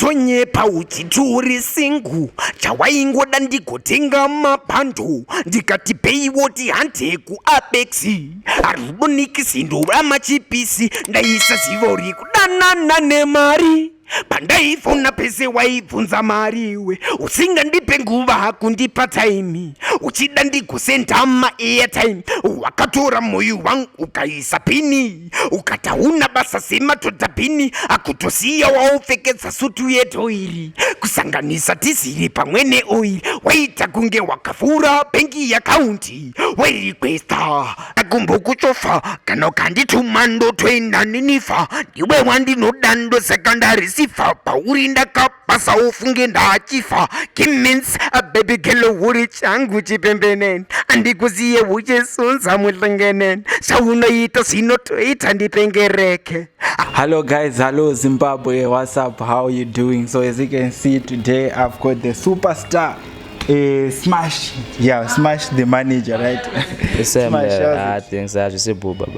Tonyepa uchiti uri singu chawaingoda ndigotenga mabhando ndikati peiwo tihande kuabex arudo nikisi ndova machipisi ndaisaziva uri kudanana nemari pandaifona pese waibvunza mari iwe usingandipe nguva hakundipa taimi uchida ndigosendama airtime wakatora moyo wangu ukaisa pini ukati hauna basa sematodhabhini akutosiya waopfekedza sutu yetoiri kusanganisa tiziri pamwe neoiri waita kunge wakavhura bhengi yakaunti wairikwesta akumbokuchofa kana ukandituma ndotoenda ninifa ndiwe wandinoda ndosaka ndarisifa pauri ndakapa basa ufunge ndachifa kimins ababy gelo uri changu chipembeneni andikuziye uchisunza muhlengeneni zvaunoita zvinotoita ndipengereke hello guys hello zimbabwe whatsapp how you doing so as you can see today i've got the superstar Eh, smash yeah smash the manager right ah,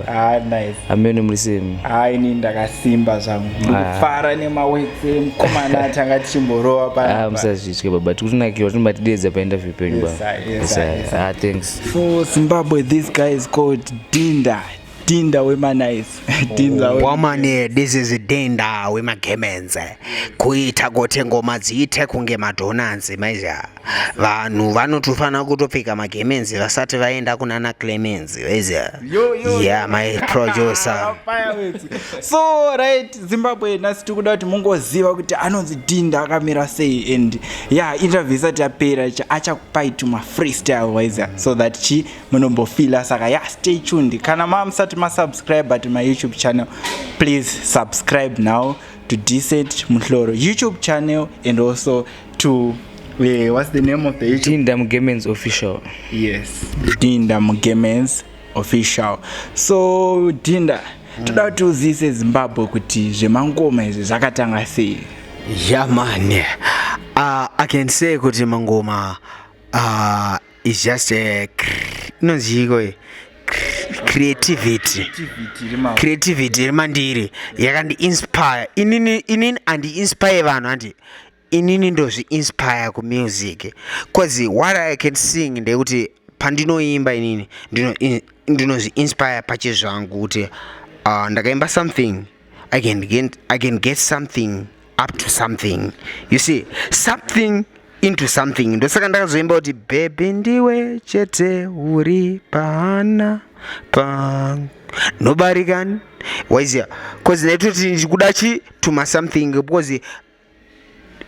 ah, amene muri semi ah, ini ndakasimba zvangu ndikufara nemawetse mukomana atanga tichimborowa pamusazvitye baba tikutinakirwa tinobatidedza painterview penyu baba thanks so zimbabwe this guy is called dinda dinda wemanice dinda oh, woman this is dinda wemagemenze kuita kuti ngoma dziite kunge madonanzi maiziva vanhu vanotofanira kutopfeka magemenzi vasati vaenda kunana clemenzi maiziva yeah my producer so right zimbabwe nhasi tiri kuda kuti mungoziva kuti anonzi dinda akamira sei and ya yeah, interview isati yapera achakupai tuma freestyle waiziva so that chi munombofila saka ya stay tuned kana mamusati masubscribe but my youtube channel please subscribe now to decent muhloro youtube channel and also to yeah, what's the name of the youtube? dinda mugemens official yes dinda mugemens official so dinda mm. toda kuti uzivise zimbabwe kuti zvemangoma izvi zvakatanga sei yamane yeah, uh, i can say kuti mangoma uh, is just a inonzi iko creativity creativity iri mandiri yakandi inspire inini inini andi inspire vanhu andi inini ndozvi inspire ku music cause what i can sing ndekuti pandinoimba inini ndinozvi inspire pachezvangu kuti uh, ndakaimba something I can get, I can get something up to something you see something into something ndosaka ndakazoimba kuti bhebhi ndiwe chete uri pahana pangu nobarikani waiziva bcause ndaitoti ndikuda chi tuma something because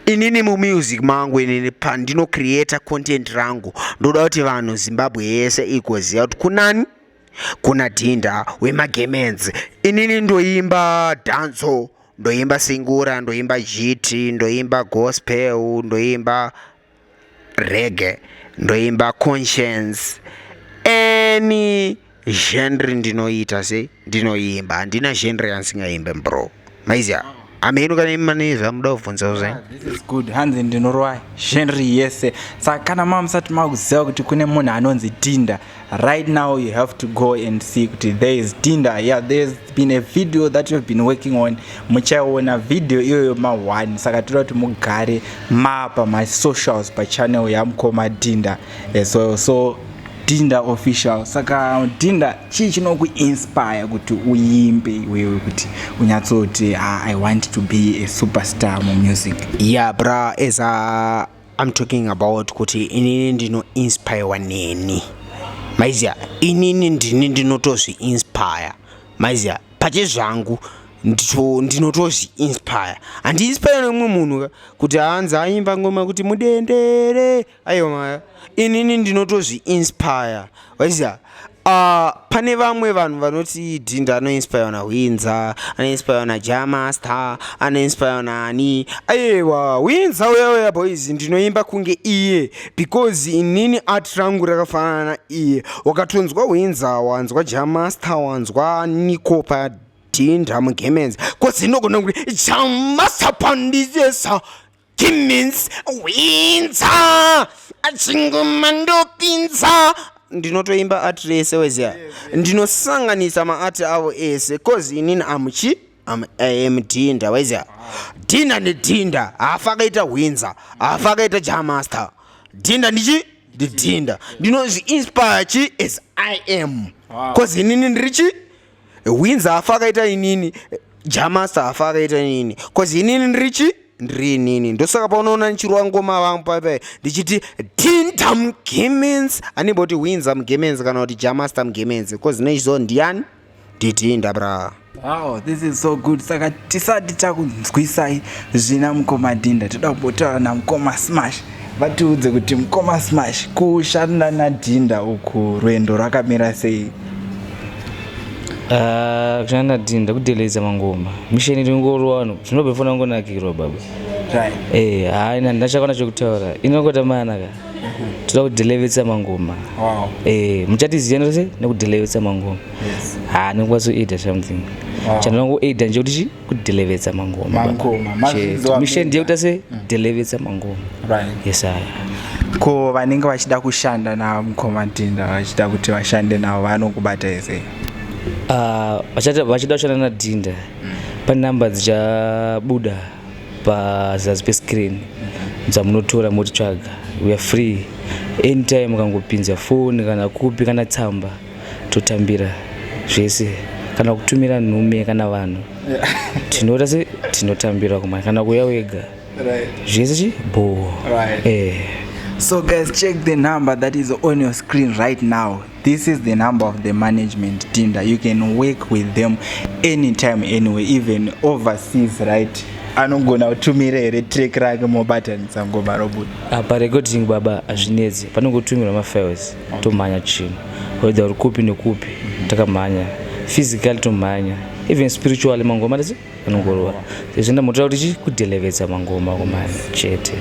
inini mumusic mangu inini pandino creator content rangu ndoda kuti vanhu zimbabwe yese igoziva kuti kunani kuna dhinda wemagemenzi inini ndoimba dhanzo ndoimba singura ndoimba jiti ndoimba gospel ndoimba rege ndoimba conscience any genre ndinoita se ndinoimba handina genre yansingaimbe bro maizia ameno kana imi mane zvamuda kubvunzawo zvenyu good hanzi ndinorova genre yese saka kana mamusati makuziva kuti kune munhu anonzi tinda right now you have to go and see kuti there is tinder yeah there's been a video that you've been working on muchaiona video iyoyo ma1 saka toda kuti mugare mapa masocials pachannel yamukoma dinda eh, so so dinda official saka dinda chii chinokuinspire kuti uimbe iwewe kuti unyatsoti ah, i want to be a superstar mumusic ya yeah, bra esa I'm talking about kuti inini ndino inspire neni maiziya inini ndini ndinotozvi inspire maiziya pache zvangu ndinotozvi inspire handi inspire nemumwe munhu kuti hanzi aimba ngoma kuti mudendere aiwa maya inini ndinotozvi inspire waiziva Uh, pane vamwe vanhu vanoti dhinda anoinspirwa nahwinza anoinspirwa naja master anoinspirwa naani aiwa hwinza uya uya boys ndinoimba kunge iye because inini art rangu rakafanana na iye wakatonzwa hwinza wanzwa ja master wanzwa niko padhinda mugemenzi kozi inogona kuti ja master pandizesa Timmins winza achinguma ndopinza ndinotoimba art rese weziya ndinosanganisa maati avo ese coz inini amuchi am am dhinda weziya dhinda ndidhinda hafa akaita hwinza hafa akaita jamaster dhinda ndichi ndidhinda ndinozviinspire chi as i am coz inini ndiri chi Winza hafa akaita inini, Jamasta hafa akaita inini. Cause inini ndiri chi? Ndiri inini. Ndosaka paunoona ndichirwa ngoma vangu paipai ndichiti Tinta Mgemenzi. Anenge kuti Winza Mgemenzi kana kuti Jamasta Mgemenzi. Cause nechizo ndiyani? Nditinda bra. Wow, this is so good. Saka tisati takunzwisai zvina mukoma Dinda. Toda kubotaura na mukoma Smash. vatiudze kuti mkoma smash kushanda nadhinda uku rwendo rwakamira sei ah, kushanda nadhinda kudeleza mangoma misheni iri ngorwa vanhu zvinobve fona ngonakirwa baba eh, haina ndinachakona chekutaura inongota manaka toda kudelevesa mangoma eh, muchatiziva nose nekudelevesa mangoma ha nokwazoida something chandinokuaida nje kuti chi kudelivetsa mangoma mangomamisheni ndiye kuita se mm. delivetsa mangoma right yes aya ko vanenge vachida kushanda namukoma tinda vachida kuti vashande navo vanokubata ese ah, vachida kushanda nadhinda mm. pane number dzichabuda pazasi pescreen mm-hmm. dzamunotora motitsvaga weare free anytime ukangopinza foni kana kupi kana tsamba totambira zvese kana kutumira nhume kana vanhu tinoita se tinotambira kuma kana kuya wega zvese chi bhoo eh so guys check the number that is on your screen right now this is the number of the management team that you can work with them anytime anyway even overseas right anogona kutumira here track rake mobatanisa ngoma robuda apa ah, recording baba hazvinetsi panongotumirwa mafiles tomhanya chino whether uri kupi nekupi takamhanya physically tomhanya even spiritually mangoma tese anongorova izvi ndamotoda kuti chi kudelevetsa mangoma kumhanya chete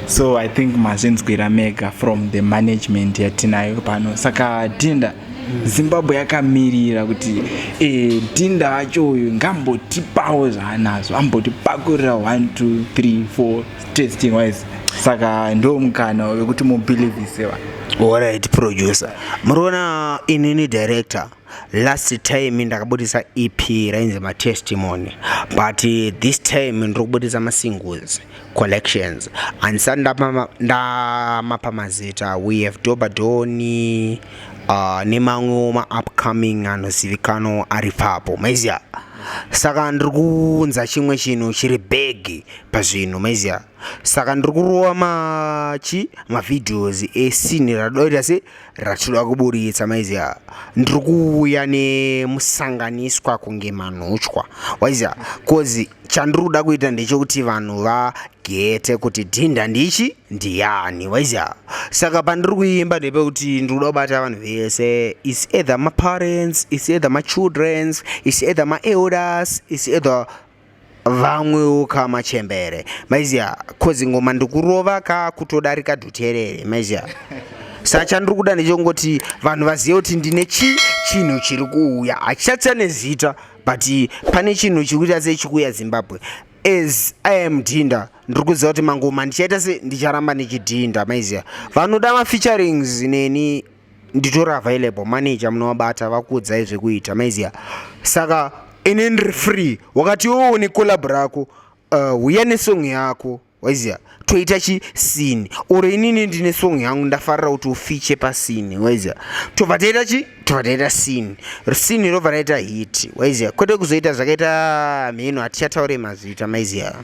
so i think mazvinzwira mega from the management yatinayo pano saka dinda zimbabwe yakamirira kuti e, dinda vacho uyu ngambotipawo zvaanazo ambotipakurira 1 2 3 4 testing wise saka ndo mukana wekuti mubelievise va alright producer muriona inini director last time ndakabudisa ep rainzi matestimony but eh, this time ndiri kubudisa masingles collections and sa ndamapa mazita we have dobadoni uh, nemamwewo maupcoming anozivikanwa ari papo maiziva saka ndiri kuunza chimwe chinhu chiri bhegi pazvinhu maiziva saka ndiri kurova machi mavideos esini radoita se ratinoda kuburitsa maiziva ndiri kuuya nemusanganiswa kunge manhuchwa waiziva bcause chandiri kuda kuita ndechekuti vanhu vagete kuti dhinda ndichi ndiyani waiziva saka pandiri kuimba ndepekuti ndiri kuda kubata vanhu vese is either maparents is either machildrens is either maelders is either vamwewo ka machembere maiziya kozi ngoma ndikurova ka kutodarika dhuterere maiziya sa chandiri kuda ndechongoti vanhu vazive kuti ndine chi chinhu chiri kuuya hachichatsa nezita but pane chinhu chiri kuita sei chikuuya zimbabwe as i am dhinda ndiri kuziva kuti mangoma ndichaita se ndicharamba ndichidhinda maiziya vanoda mafeaturings neni nditori available manager munovabata vakuudzai zvekuita maiziva saka ini ndiri free wakati iwewo une collab rako uh, uya nesong yako waiziva toita chisini or inini ndine song yangu ndafarira kuti ufiche pasini waiziva tobva taita chi tobva taita sini sini robva raita hit waiziva kwete kuzoita zvakaita mheno hatichataure mazita maiziva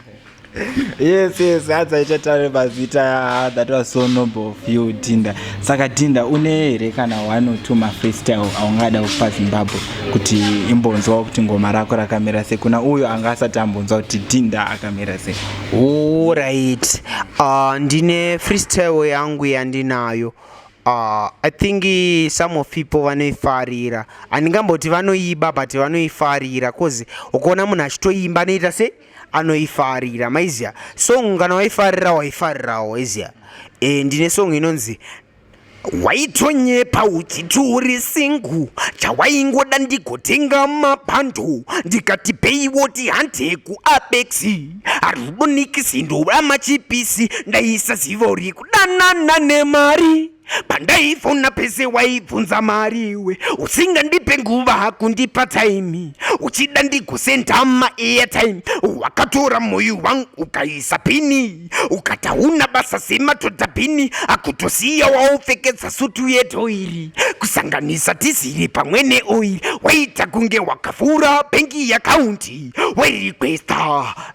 yes yes hadza ichatare mazita ah, that was so noble of you dinda saka dinda une here kana one or two mafreestyle aungada kupa zimbabwe kuti imbonzwawo kuti ngoma rako rakamira sei kuna uyo anga asati ambonzwa kuti dinda akamira sei orit uh, ah, ndine freestyle yangu yandinayo Uh, i think some of people vanoifarira handingamboti vanoiba but vanoifarira bcause ukaona munhu achitoimba anoita se anoifarira maiziya song kana waifarira waifarirawo waiziya e, eh, ndine song inonzi waitonyepa uchiti uri singu chawaingoda ndigotenga mabhando ndikati peiwoti hande kuabexi harudonikisi ndorama chipisi ndaisaziva uri kudanana nemari pandaifona pese waibvunza mari iwe usingandipe nguva hakundipa taimi uchida ndigosendama airtime wakatora moyo wangu ukaisa pini ukati hauna basa sematoda bhini akutosiya waopfekedza sutu yetoiri kusanganisa tiziri pamwe neoiri waita kunge wakavhura bhengi yakaunti wairikwesta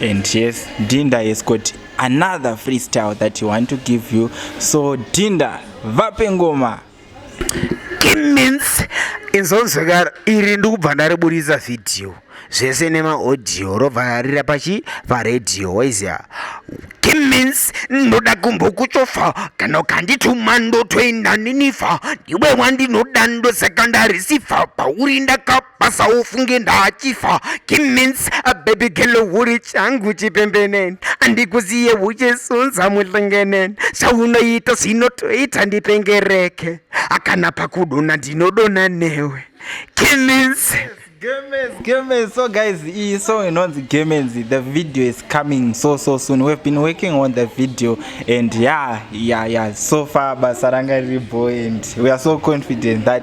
and yes dinda has got another freestyle that he want to give you so dinda vape ngoma means inzonzwekara iri ndikubva ndariburitsa vhidhiyo zvese nemaaudio robva rarira pachi paredhiyo waizia kimins ndoda kumbokuchofa kana ukandituma ndotoenda ninifa ndiwe wandinoda ndosaka ndarisifa pauri ndakapa basa ufunge ndachifa kimins ababy gelo uri changu chipembeneni andikuziye uchisunza muhlengeneni zvaunoita zvinotoita ndipengereke akana pakudona ndinodona newe kimins Games, games. So guys, iyi song inonzi Games. The video is coming so so soon. We've been working on the video and yeah, yeah, yeah. So far basa ranga riri boy and we are so confident that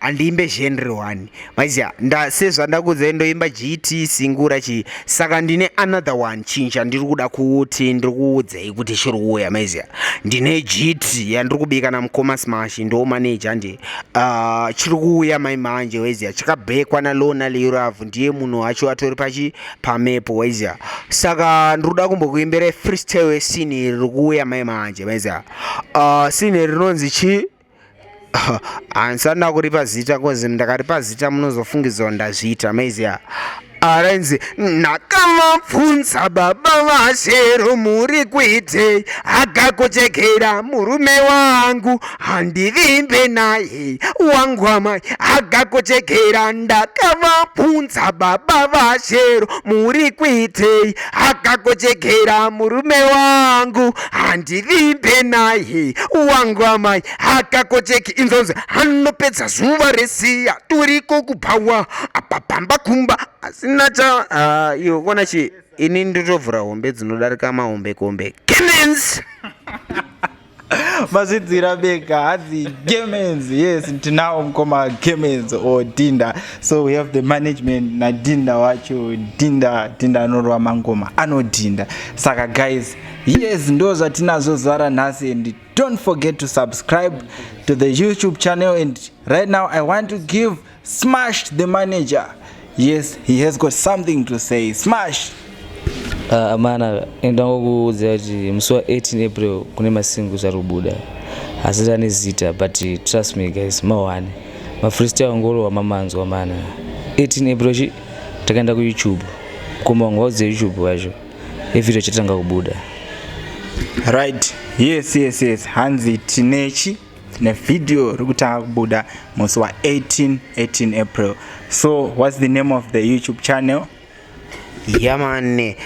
handiimbe genre one maiziva nda sezvandakuudzai ndoimba gt singura chii saka ndine another one chinhu chandiri kuda kuti ndiri kuudzai kuti chiri kuuya maiziva ndine gt yandiri kubika namukoma smash ndo manaje andi uh, ah, chiri kuuya mai manje waiziva chakabhekwa nalona leurav ndiye munhu wacho atori pachi pamepo waiziva saka ndiri kuda kumbokuimbira freestyle sini riri kuuya mai manje maiziva uh, ah, sini rinonzi chii handisati ndakuripa zita kozi ndakaripa zita munozofungidzwa ndazviita maiziya arinzi ndakamabvunza baba vashero muri kuitei akakochekera murume wangu handivimbe naye wangu amai akakochekera ndakamabvunza baba vashero muri kuitei akakochekera murume wangu handivimbe naye wangu amai akakocheki inzonzi anopedza zuva resiya turiko kubhawa apa pamba kumba asina cha ah, iyo kona chi ini ndotovhura hombe dzinodarika mahombe kombe Clemens! mazvidzira beka hadzi gemens yes tinawo mukoma gemens or dinda so we have the management nadinda wacho dinda dinda anorova mangoma anodhinda saka guys yes ndo zvatinazvo zara nhasi and don't forget to subscribe to the youtube channel and right now i want to give Smash the manager. Yes, he has got something to say. Smash. Ah, amana ndangokuudza kuti musi wa 18 april kune masingu ari kubuda asi ane zita but trust me guys mawane mafreestyle angorowa mamanzwa mana 18 april chi takaenda kuyoutube koma wanga waudze youtube wacho evideo chatanga kubuda right yes yes yes hanzi tinechi nevideo rikutanga kubuda musi wa 18 18 april so what's the name of the youtube channel yamane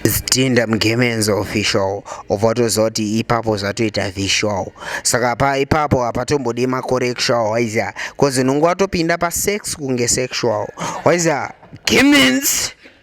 zitinda mgemenzi official ovatoziva kuti ipapo zvatoita visual saka pa ipapo hapatombodi macorrectual waiziva bcause unonge watopinda pasex kunge sexual waiziva gemenzi